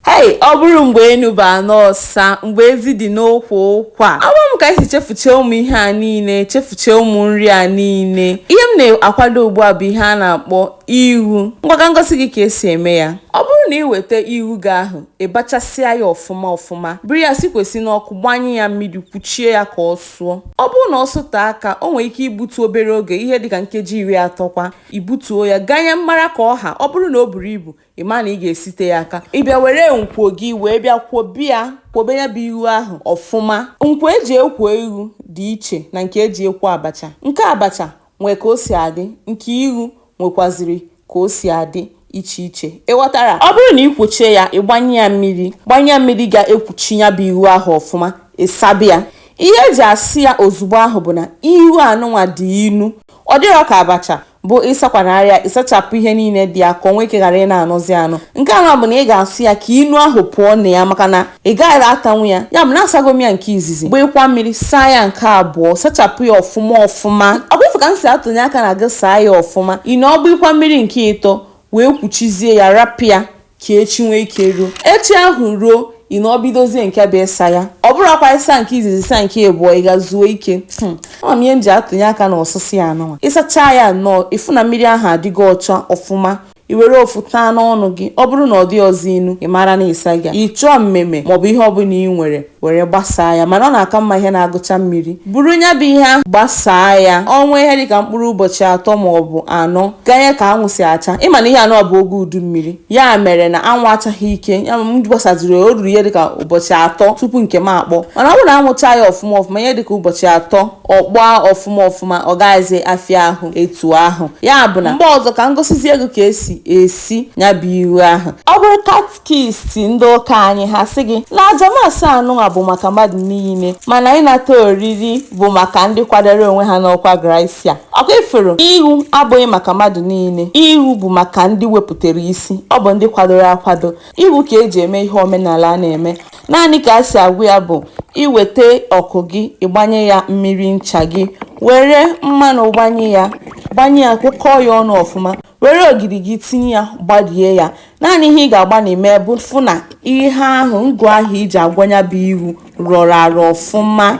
Hei, ọ bụrụ mgbe enu bụ ana ọsa, mgbe ezi dị n'ukwu ụkwa. Ama m ka anyị si chefuchee ụmụ ihe a niile, chefuchee ụmụ nri a niile. Ihe m na-akwado ugbu a bụ ihe a na-akpọ ighu. Ngwa ka m gosi gị ka esi eme ya. Ọ bụrụ na ị weta ighu gị ahụ, ị bachasịa ya ọfụma ọfụma, buru ya sikwasị n'ọkụ, gbanye ya mmiri, kwuchie ya ka ọ sụọ. Ọ bụrụ na ọ sụtee aka, o nwere ike ibutu obere oge, ihe dịka nkeji iri atọ kwa. I butuo ya, ganye mmara ka ọ ha. Ọ bụrụ na o buru ibu, ị ma na ị ga-esite ya aka ị bịa were nkwo gị wee bịa kwobe ya kwobe ya bụ ighu ahụ ọfụma nkwo eji ekwo ighu dị iche na nke eji ekwo abacha nke abacha nwee ka o si adị nke ighu nwekwaziri ka o si adị iche iche ị ghọtara ọ bụrụ na ị kwochie ya ị gbanye ya mmiri gbanye ya mmiri ga-ekwuchi ya bụ ighu ahụ ọfụma ịsaba ya ihe eji asa ya ozugbo ahụ bụ na ighu anụnwa dị inu ọ dịrọ ka abacha bụ ịsakwanarị ya ịsachapụ ihe niile dị ya ka o nwee ike ghara ịna-anọzi anọ nke anụ bụ na ị ga-asụ ya ka inu ahụ pụọ na ya maka na ị gaghị atanwu ya ya bụ na asago m ya nke izizi gbakwa mmiri saa ya nke abụọ sachapụ ya ọfụma ọfụma ọkwa ịfụ ka m si atụnye aka na gị saa ya ọfụma ị nọọ gbakwa mmiri nke ịtọ wee kwuchizie ya rapụ ya ka echi nwee ike ruo echi ahụ ruo ị nọọ bidozie nke bụ ịsa ya ọ bụrọkwa ịsa nke izizi saa nke ịbụọ ị ga zuo ike hmm. ama m ihe m ji atụnye aka na ọsụsụ ya anụnwa ịsacha ya nnọọ ịfụ na mmiri ahụ adịgo ọcha ọfụma i were ofu taa n'ọnụ gị ọ bụrụ na ọ dịrọzi inu ị mara na ị sago ya ị chọọ mmemme maọbụ ihe ọbụla ị nwere were gbasaa ya mana ọ na-aka mma ihe na-agụcha mmiri buru ya bụ ihe ahụ gbasaa ya o nwee ihe dịka mkpụrụ ụbọchị atọ ma ọ bụ anọ ganye ka anwụ si acha ịma na ihe a nọ bụ oge udu mmiri ya mere na anwụ achaghị ike ya m gbasaziri o ruru ihe dịka ụbọchị atọ tupu nke m akpọ mana ọ bụrụ na anwụ chaa ya ọfụma ọfụma ihe dịka ụbọchị atọ ọ kpọọ ọfụma ọfụma ọ gaghịzi afịa ahụ etu ahụ ya bụ na mgbe ọzọ ka m gosizie gị ka esi esi ya bụ ighu ahụ ọ bụrụ kist ndị ụka anyị ha sị gị na aja mass anụnwa bụ maka mmadụ niile mana ịnata oriri bụ maka ndị kwadoro onwe ha n'ọkwa grasịa ọkwa ị fụrụ ighu abụghị maka mmadụ niile ighu bụ maka ndị wepụtara isi ọ bụ ndị kwadoro akwado ighu ka eji eme ihe omenala a na-eme naanị ka e si agwọ ya bụ iweta ọkụ gị ịgbanye ya mmiri ncha gị were mmanụ gbanye ya gbanye ya kwụkọọ ya ọnụ ọfụma Were ogiri gị tinye ya gbarie ya. Naanị ihe ị ga-agbanị ime bụ fụ na ihe ahụ ngụ ahụ iji agwọ ya bụ ighu rọrọ arọ ọfụma.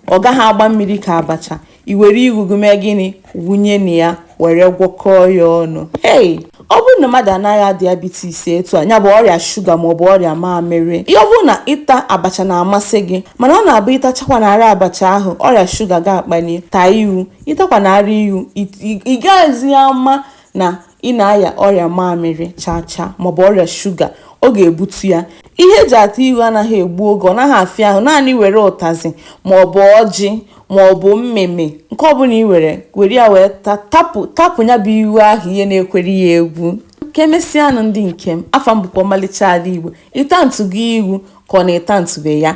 Ọ gaghị agba mmiri ka abacha. I were ighu gị mee gịnị? Wụnye na ya were gwọkọọ ya ọnụ. Hey! Ọ bụrụ na mmadụ na-arịa diabetes etu a, ya bụ ọrịa shuga maọbụ ọrịa mamịrị, ọ bụrụ na ịta abacha na-amasị gị mana ọ na-abụ ị tachakwanarị abacha ahụ, ọrịa shuga gị akpali, taa ighu. ịtakwanara ighu ị gaghịzi ama na ị na-aya ọrịa mamịrị chacha maọbụ ọrịa shuga ọ ga-ebutu ya ihe eji ata ighu anaghị egbu oge ọ naghị afịa ahụ naanị were ụtazị maọbụ ọjị maọbụ mmeme nke ọbụla ị were ya wee tapụ ya bụ ighu ahụ ihe na-ekwere ya egwu ka emesịanụ ndị nke m afa m bụkwa ọmalịcha ala igbo ị tatụgo ighu ka ọ na ị tatụbe ya